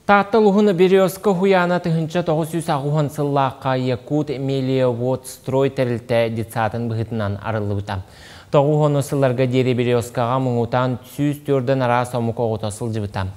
Тааттал уһуна Березка уһуйаана тыһыынча тоҕус сүүс аҕыс сыллаахха Якут-Мелиоводстрой тэрилтэ детсаатын быһыытынан арыллыбыта. Тоҕус уон сылларга диэри Березкаҕа муҥутаан сүүс түөртэн араас омук оҕото сылдьыбыта.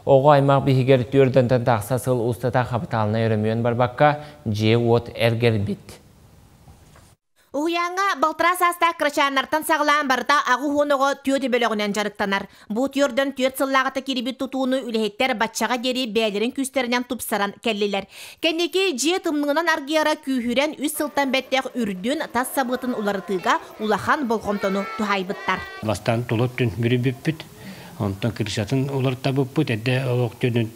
Оҕо аймах биһигэр түөртэнтэн тахса сыл устата хапытаалынай өрөмүөн барбакка, дьиэ-уот эргэрбит. Уһуйааҥҥа балтараа саастаах кырачааннартан саҕалаан барыта аҕыс уон оҕо түөрт бөлөҕүнэн дьарыктанар. Бу түөртөн түөрт сыллааҕыта кирибит тутууну үлэһиттэр баччаҕа диэри бэйэлэрин күүстэринэн тупсаран кэллилэр. Кэнники дьиэ тымныынан аргыйара күүһүрэн үс сылтан бэттэх үрдүн, тас сабыытын уларытыыга улахан болҕомтону туһаайбыттар. Бастаан тула түн бүрүйбүппүт, онтон крышатын уларытабыппыт, эрдэ олох түнүн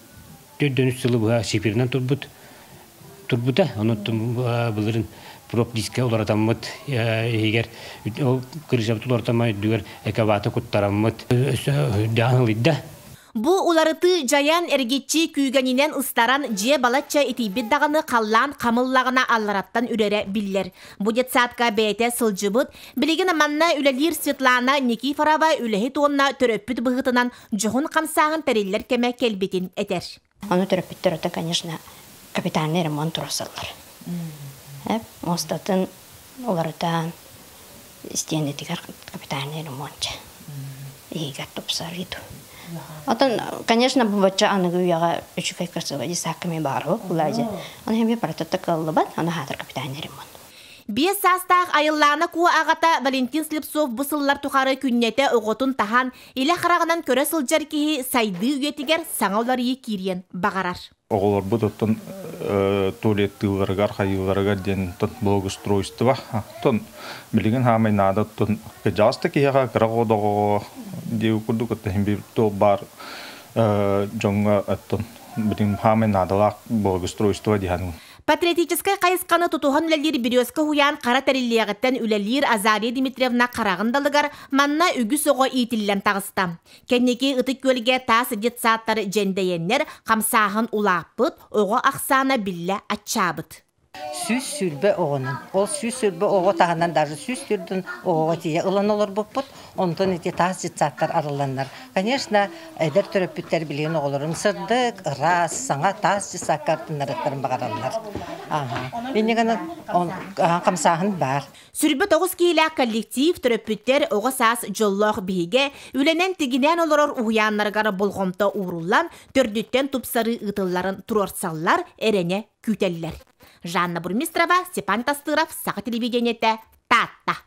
Төрдөн үс сылы быһа Сибирынан турбут турбута, онон былырын проп-диска уларатаммыт иһигэр ол кырыысабыт уларатаммат үрдүгэр экобаты куттараммыт өссө үрдэҕин ылыйда. Бу уларытыы дьайан эргиччи күүгэнинэн ыстаран дьиэ балачча итийбит даҕаны халлаан хамыллаҕына аллараттан үрэрэ биллэр. Бу детсадка бэйэтэ сылдьыбыт, билигин манна үлэлиир Светлана Никифорова үлэһит уонна төрөппүт быһыытынан дьоһун хамсааҕын тэриллэр кэмэ кэлбитин этэр. Ону төрөппүттэр ото, конечно, капитальный ремонт турасаллар. Мостатын уларытаан истиэнэтигэр капитальный ремонт иһигэр тупсарыыду. Отон, конечно, бу бачча аныгы үйэҕэ үчүгэй кырсыбади саакками баарабы кулаажы. Оны хэмби парататта кыллыбат, аны хаатар капитальный ремонт. Биэс саастаах айыллаана куо аҕата Валентин Слепцов бу сыллар тухары күннэтэ оҕотун таһан Илэ хараҕынан көрө сылдьар киһи сайдыы үйэтигэр саҥа уларыйыы киириэн баҕарар. Оҕолорбут оттон туалеттыыларыгар, хайыыларыгар диэн благоустройство, оттон билигин хаамай наада оттон кыдьаҕас да киһиэхэ кыра оҕоҕо диэки курдук оттон иһин биир туох баар дьоҥҥо оттон билигин хаамай наадалаах благоустройство диһан Патриотическай хайысханы тутуһан үлэлиир Бүрүөскэ уһуйаан хара тэриллиэҕиттэн үлэлиир Азалия Дмитриевна хараҕын далыгар манна үгүс оҕо иитиллэн таҕыста. Кэнники ытык күөлгэ таас детсадтар дьэндэйэннэр хамсааһын улааппыт, оҕо ахсаана биллэ аччаабыт. Сүүс сүүрбэ оҕонон. Ол сүүс сүүрбэ оҕо таһынан даже сүүс төрдүн оҕоҕо тиийэ ылан олорбуппут. Онтон ити таас детсадтар арылланнар, конечно, эдэр төрөппүттэр билигин оҕолорун сырдык, ыраас, саҥа таас детсадка артыннарыахтарын баҕараллар. Ааһа. Иннигэнэн хамсааһын баар. Сүүрбэ тоҕус киһилээх коллектив төрөппүттэр оҕо саас дьоллоох биһигэ үлэнэн тигинээн олорор уһуйааннарыгар болҕомто ууруллан, төрдүттэн тупсарыы ыытылларын туруорсаллар, эрэнэ күүтэллэр. Жанна Бурмистрова, Степан Костыров, Саха телевидениетэ, Таатта.